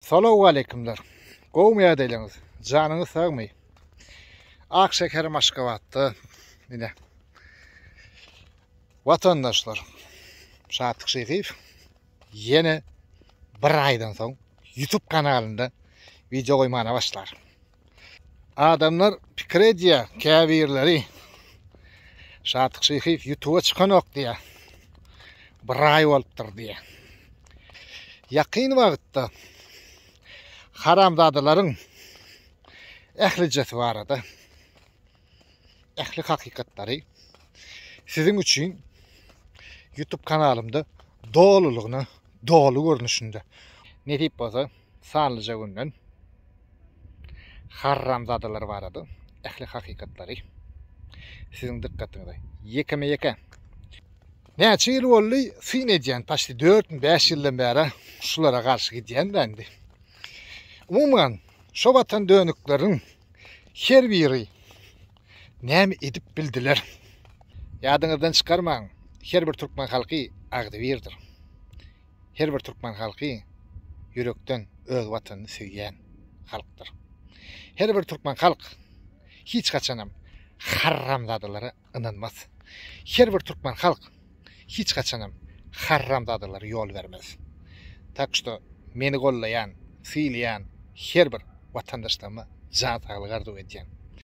Salowwaleýkimler! Gowumy ýagdaýlaryňyz? Janyňyz sagmy? Ak şekerim Aşgabatda ine. Watandaşlar, Şatlyk Şyhyýew ýene bir aýdan soň YouTube kanalynda wideo goýmana başlar. Adamlar pikir edýär, käbirleri Şatyk Şyhyýew ýutuba çykanok diýýär. Bir aý bolupdyr diýýär. Ýakyn wagtda haramzadalaryň ählijesi barada ähli hakykatlary siziň üçin YouTube kanalymda dolulygyna, doly görnüşinde nesip bolsa sanlyja günden harramzadalar barada ähli hakykatlary siziň dykgatyňyza ýekeme-ýeke Näçe ýyl boldy syn edýän, paşti 4-5 ýyldan bäri şulara garşy gidýän-dä indi. Umuman, şo watan dönükleriň Her biri näme edip bildiler? Ýadyňyzdan çykarmaň, her bir türkmen halky agzybirdir. Her bir türkmen halky ýürekden öz watanyny söýýän halkdyr. Her bir türkmen halk hiç haçanam harramzadalara ynanmaz. Her bir türkmen halk hiç haçanam harramzadalara ýol bermez. Tak şto meni gollaýan, sylaýan her bir watandaşlaryma jan saglygy arzuw edýän.